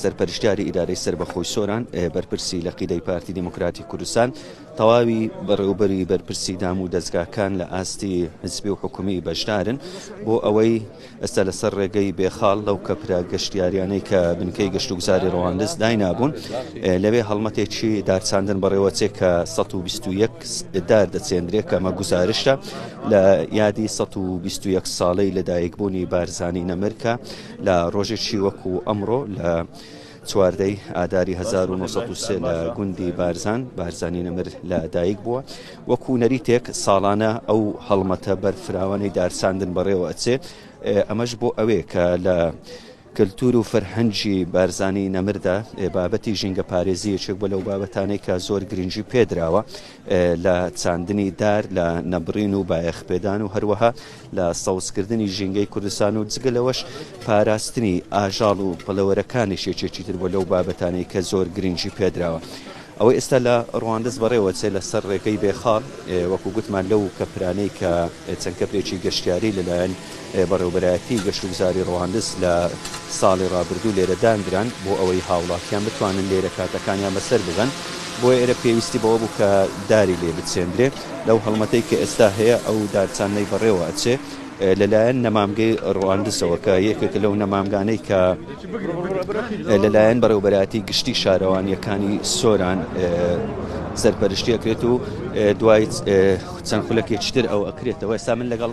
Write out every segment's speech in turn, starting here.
سەرپەرشتیاری ئیدارەی سەربەخۆی سۆران، بەرپرسی لقیدەی پارتی دیموکراتی کوردستان، تەواوی بەڕێوبەری بەرپرسی دام و دەزگاکان لە ئاستی حزبی و حکومی بەشدارن بۆ ئەوەی ئێستا لەسەر ڕێگەی بێخاڵ لەو کەپرە گەشتیاریانەی کە بنکەی گەشتوگوزاری ڕواندز داینابوون لەوێ هەڵمەتێکی دارچاندن بەڕێوەچێ کە سەد و بیست و یەک دار دەچێندرێ کە ئەمە گوزارشتە لە یادی سەد و بیست و یەک ساڵەی لەدایکبوونی بارزانی نەمر کە لە ڕۆژێکی وەکو ئەمڕۆ لە چواردەی ئاداری 1970 لە گوندی بارزان بارزانی نەمر لە دایک بووە وەکو نەریتێک ساڵانە ئەو هەڵمەتە بەرفراوانەی دارساندن بەڕێوە ئەچێ ئەمەش بۆ ئەوێ کە لە کللتور و فەرهەنجی بارزانانی نەمردا بابەتی ژینگە پارێزی یەکێک بە لەو بابەتانەی کە زۆر گرنگی پێدراوە لە چاندنی دار لە نەبرین و بایەخپێدان و هەروەها لە سەوزکردنی ژینگەی کوردستان و جگە لەوەش پاراستنی ئاژاڵ و پەڵەوەرەکانیش یەکێکی تر بووە لەو بابەتانەی کە زۆر گرنگی پێدراوە. ئەوەی ئێستا لە ڕواندز بەڕێوەچێت لەسەر ڕێگەی بێخاڵ، وەکو گوتمان لەو کەپرانەی کە چەند کەپرێکی گەشتیاری لەلایەن بەڕێوەبەرایەتیی گەشتوگوزاری ڕواندز لە ساڵی ڕابردوو لێرە داندران بۆ ئەوەی هاوڵاتیان بتوانن لێرە کاتەکانیان بەسەر ببەن، بۆیە ئێرە پێویستی بەوە بوو کە داری لێ بچێندرێ. لەو هەڵمەتەی کە ئێستا هەیە ئەو دارچانەی بەڕێوە ئەچێ لەلایەن نەمامگەی ڕواندزەوە کە یەکێکە لەو نەمامگانەی کە لەلایەن بەڕێوبەراتی گشتی شارەوانیەکانی سۆران سەرپەرشتیەکرێت و دوای چەند خولەکێکتر ئەو ئەکرێتەوە ئێستا من لەگەڵ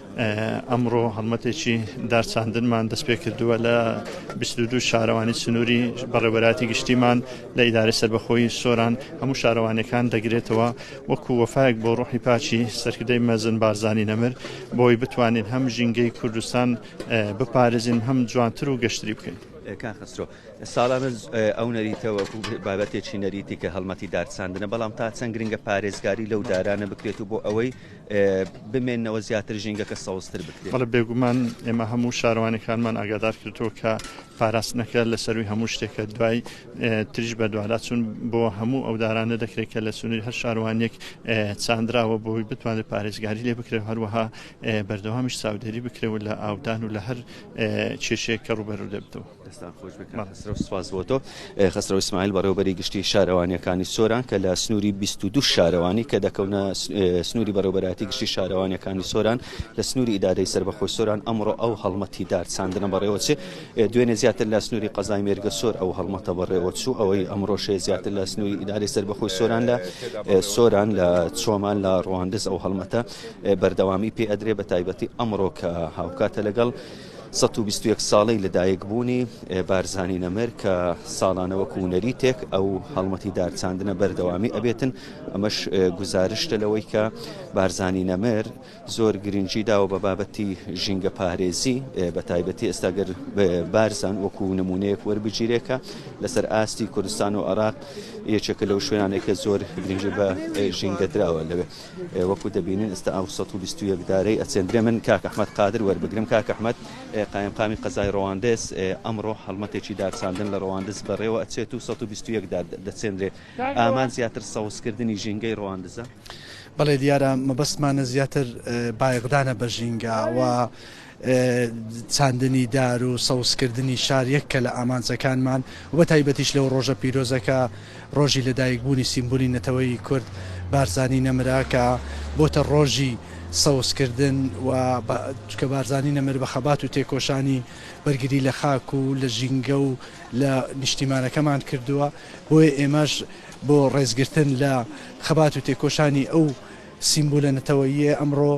ئەمڕۆ هەڵمەتێکی دارچاندنمان دەستپێکردووە لە بیست و دوو شارەوانی سنووری بەڕێوەبەرایەتی گشتیمان لە ئیدارەی سەربەخۆی سۆران هەموو شارەوانیەکان دەگرێتەوە وەکو وەفایەک بۆ ڕۆحی پاکی سەرکردەی مەزن بارزانی نەمر بۆی بتوانین هەم ژینگەی کوردستان بپارێزین هەم جوانتر و گەشتری بکەین. کاک خەسرۆ ساڵانە ئەو نەریتە وەکو بابەتێکی نەریتی کە هەڵمەتی دارچاندنە بەڵام تا چەند گرنگە پارێزگاری لەو دارانە بکرێت و بۆ ئەوەی بمێنەوە زیاتر ژینگەکە سەوزتر بکرێت. بەڵێ بێگومان ئێمە هەموو شارەوانەکانمان ئاگادار کردووە کە پاراستنەکە لە سەرووی هەموو شتێکە دوای تریش بە دواداچوون بۆ هەموو ئەو دارانە دەکرێت کە لە سنووری هەر شارەوانێک چاندراوە بۆی بتوانێت پارێزگاری لێ بکرێت هەروەها بەردەوامیش چاودێری بکرێت و لە ئاودان و لە هەر کێشەیەک کە ڕووبەروو دەبێتەوە. دەستان خۆش بێت کاک خەسرەو سپاس بۆ تۆ. خەسرەو ئیسماعیل بەڕێوەبەری گشتی شارەوانیەکانی سۆران کە لە سنوری بیست و دوو شارەوانی کە دەکەونە سنوری بەڕێوەبەرایەتی گشتی شارەوانیەکانی سۆران لە سنوری ئیدارەی سەربەخۆی سۆران ئەمڕۆ ئەو هەڵمەتی دار چاندنە بەڕێوەچێ دوێنێ زیاتر لە سنوری قەزای مێرگەسۆر ئەو هەڵمەتە بەڕێوەچوو ئەوەی ئەمڕۆشێ زیاتر لە سنوری ئیدارەی سەربەخۆی سۆران لە سۆران لە چۆمان لە ڕواندز ئەو هەڵمەتە بەردەوامی پێ ئەدرێ بە تایبەتی ئەمڕۆ کە هاوکاتە لەگەڵ سەد و بیست و یەک ساڵەی لە دایک بوونی بارزانی نەمر کە ساڵانە وەکوو نەریتێک ئەو هەڵمەتی دار چاندنە بەردەوامی ئەبێتن ئەمەش گوزارشتە لەوەی کە بارزانی نەمر زۆر گرنگی داوە بە بابەتی ژینگە پارێزی بە تایبەتی ئێستاگەر بارزان وەکوو نمونەیەک وەربگیرێکە لەسەر ئاستی کوردستان و عراق یەکێکە لەو شوێنانێکە زۆر گرنگی بە ژینگە دراوە لەوێ. وەکو دەبینین ئستا ئەو سەد و بیست و یەک دارەی ئەچێندرێ من کاک ئەحمەد قادر وەربگرم کاک ئەحمەد قایمقامی قەزای ڕەواندز ئەمڕۆ هەڵمەتێکی دارچاندن لە ڕەواندز بەڕێوە ئەچێت و سەد و بیست و یەک دار دەچێندرێ ئامان زیاتر سەوزکردنی ژینگەی ڕەواندزە؟ بەڵێ دیارە مەبەستمانە زیاتر بایەخدانە بە ژینگە وە چاندنی دار و سەوزکردنی شار یەککە لە ئامانجەکانمان و بە تایبەتیش لەو ڕۆژە پیرۆزەکە ڕۆژی لەدایکبوونی سیمبولی نەتەوەیی کورد بارزانی نەمرە کە بۆتە ڕۆژی سەوزکردن و چونکە بارزانی نەمر بە خەبات و تێکۆشانی بەرگری لە خاک و لە ژینگە و لە نیشتیمانەکەمان کردووە بۆیە ئێمەش بۆ ڕێزگرتن لە خەبات و تێکۆشانی ئەو سیمبولە نەتەوەییە ئەمڕۆ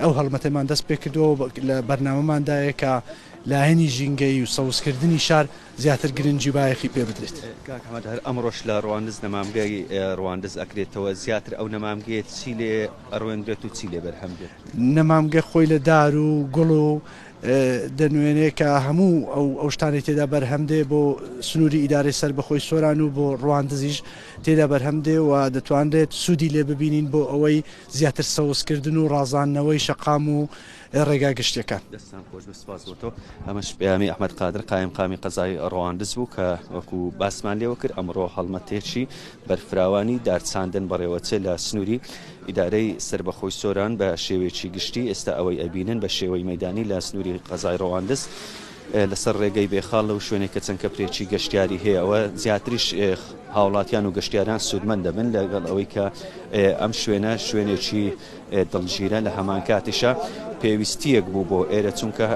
ئەو هەڵمەتەمان دەست پێ کردووە و لە بەرنامەماندایە کە لایەنی ژینگەیی و سەوزکردنی شار زیاتر گرنگی و بایەخی پێ بدرێت. کاک حەمەد، هەر ئەمڕۆش لە ڕواندز نەمامگەی ڕواندز ئەکرێتەوە، زیاتر ئەو نەمامگەیە چی لێ ئەڕوێنرێت و چی لێ بەرهەم دێت؟ نەمامگە خۆی لە دار و گوڵ و دەنوێنێ کە هەموو ئەو شتانەی تێدا بەرهەم دێ بۆ سنووری ئیدارەی سەربەخۆی سۆران و بۆ ڕواندزیش تێدا بەرهەم دێ و دەتوانرێت سوودی لێ ببینین بۆ ئەوەی زیاتر سەوز کردن و ڕازاندنەوەی شەقام و ڕێگا گشتیەکان. دەستتان خۆش بێت سوپاس بۆ تۆ. ئەمەش پەیامی ئەحمەد قادر قایمقامی قەزای ڕەواندز بوو کە وەکو باسمان لێوە کرد ئەمڕۆ هەڵمەتێکی بەرفراوانی دارچاندن بەڕێوەچێ لە سنووری ئیدارەی سەربەخۆی سۆران بە شێوەیەکی گشتی ئێستا ئەوەی ئەبینن بە شێوەی مەیدانی لە سنووری قەزای ڕەواندز لەسەر ڕێگەی بێخاڵ لەو شوێنەی کە چەند کەپرێکی گەشتیاری هەیە ئەوە زیاتریش هاوڵاتیان و گەشتیاران سوودمەند دەبن لەگەڵ ئەوەی کە ئەم شوێنە شوێنێکی دڵگیرە لە هەمان کاتیشە پێویستیەک بوو بۆ ئێرە چونکە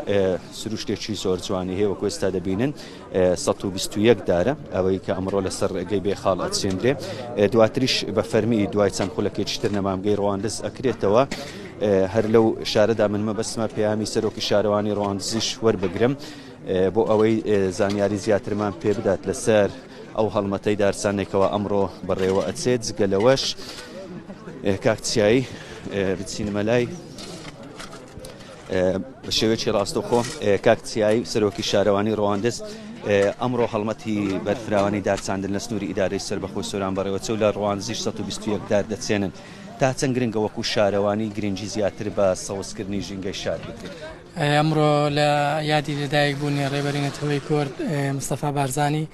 سروشتێکی زۆر جوانی هەیە وەکو ئێستا دەبینن 121 دارە ئەوەی کە ئەمڕۆ لەسەر ڕێگەی بێخاڵ ئەچێندرێ دواتریش بە فەرمی دوای چەند خولەکێکیتر نەمامگەی ڕواندز ئەکرێتەوە هەر لەو شارەدا من مەبەستمە پەیامی سەرۆکی شارەوانی ڕواندزیش وەربگرم بۆ ئەوەی زانیاری زیاترمان پێ بدات لەسەر ئەو هەڵمەتەی دارسانێکەوە ئەمڕۆ بەڕێوە ئەچێت جگە لەوەش کاکچایی بچینمە لای بە شێوێکی ڕاستەخۆ کاکچایی سەرۆکی شارەوانی ڕواندز ئەمڕۆ هەڵمەتی بەرفراوانی دارچاندن لە سنووری ئیدارەی سەر بەخۆی سۆران بەڕێوەچە و لە ڕوانزیش 1920 دار دەچێنن تا چەند گرنگە وەکو شارەوانی گرنگی زیاتر بە سەوزکردنی ژینگەی شار بدرێت؟ ئەمڕۆ لە یادی لەدایک بوونی ڕێبەری نەتەوەی کورد مستەفا بارزانی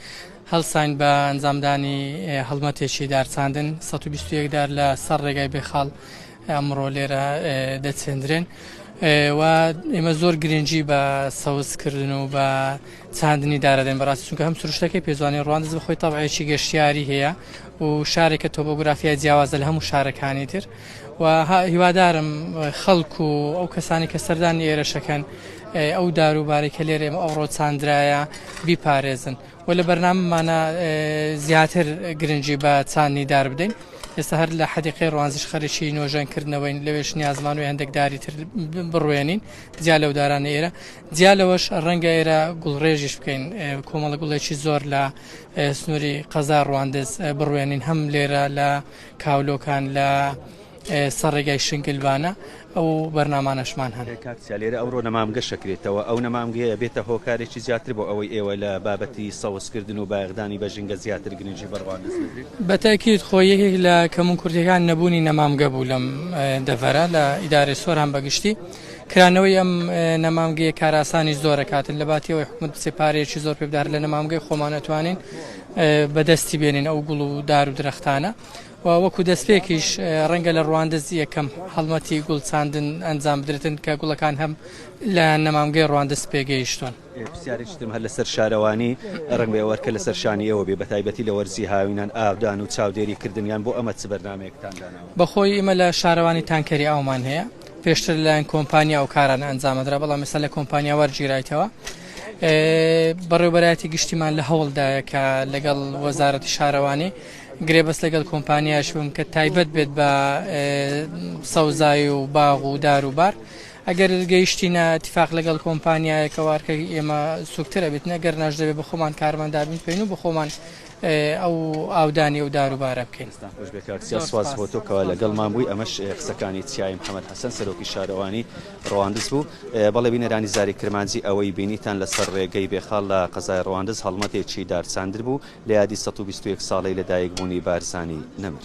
هەڵساین بە ئەنجامدانی هەڵمەتێکی دارچاندن 121 دار لە سەر ڕێگای بێخاڵ ئەمڕۆ لێرە دەچێندرێن و ئێمە زۆر گرنگی بە سەوزکردن و بە چاندنی دارەدەین بەڕاستی چونکە هەم سروشتەکەی پێ جوانە ڕواندز بەخۆی تەبعێکی گەشتیاری هەیە و شارێکە تۆبۆگرافیای جیاوازە لە هەموو شارەکانی تر و هیوادارم خەڵک و ئەو کەسانی کە سەردانی ئێرەشەکەن ئەو داروبارەی کە لێرە ئێمە ئەوڕۆ چاندرایە بیپارێزن و لە بەرنامەمانە زیاتر گرنگی بە چاندنی دار بدەین ئێستا هەر لە حەدیقی ڕوانزش خەرشی نۆژەنکردنەوەین لەوێش نیازمان و هەندێکداری تر بڕوێنین جیا لەو دارانە ئێرە جیا لەوەش ڕەنگە ئێرە گوڵڕێژیش بکەین کۆمەڵە گوڵێکی زۆر لە سنووری قەزا ڕواندز بڕوێنین هەم لێرە لە کاولۆکان لە سەرڕێگای شنگلبانە ئەو بەرنامانەشمان هەن کاکسیا لێرە ئەوڕۆ نەمامگە شەکرێتەوە ئەو نەمامگەیە بێتە هۆکارێکی زیاتر بۆ ئەوەی ئێوە لە بابەتی سەوزکردن و بایەخدانی بە ژینگە زیاتر گرنگی بە ڕواندز بدرێت بەتاکیت خۆ یەکێک لە کەمونکورتیەکان نەبوونی نەمامگە بوو لەم دەڤەرە لە ئیدارەی سۆران بەگشتی کرانەوەی ئەم نەمامگەیە کاراسانی زۆرەکاتن لەباتی ئەوەی حکومت بچێ پارەیەکی زۆر پێ بدار لە نەمامگەی خۆمان ئەتوانین بەدەستی بێنین ئەو گوڵ و دار و درەختانە و وەکو دەستپێکیش ڕەنگە لە ڕواندز یەکەم هەڵمەتی گوڵ چاندن ئەنجام بدرێتن کە گوڵەکان هەم لە نەمامگەی ڕواندز پێگەیشتون پرسیارێکتم هەر لەسەر شارەوانی ڕنگێ وەرکە لەسەر شانی ئێوە بێ بەتایبەتی لە وەرزی هاوینان ئاودان و چاودێری کردنیان بۆ ئەمە چ بەرنمەیەکتان بەخۆی ئمە لە شارەوانی تانکەری ئاومان هەیە پێشتر لەلایەن کۆمپانیا ئەو کارانە ئەنجامەدرا بەڵام ئێستا لە کۆمپانیا وەرگیرایتەوە بەڕێوبەرایەتی گشتیمان لە هەوڵدایە کە لەگەڵ وەزارەتی شارەوانی گرێبەست لەگەڵ کۆمپانیاش بم کە تایبەت بێت بە سەوزایی و باغ و دار و بار ئەگەر گەیشتینە تفاق لەگەڵ کۆمپانیایەکەوارکە ئێمە سوکترە بێت نەگەر ناش دەبێت بە خۆمان کارمەندابین پێین و بە خۆمان ئەو ئاودانی ئەو دار و بارە بکەین. دەستتان خۆش بێت کاک سیاس، سوپاس بۆ تۆ کەوا لەگەڵمان بووی، ئەمەش قسەکانی چیای محەمەد حەسەن سەرۆکی شارەوانی ڕەواندز بوو. بەڵێ بینەرانی زاری کرمانجی ئەوەی بینیتان لەسەر ڕێگەی بێخاڵ لە قەزای ڕەواندز هەڵمەتێکی دارچاندر بوو لە یادی سەد و بیست و یەک ساڵەی لەدایکبوونی بارزانی نەمر.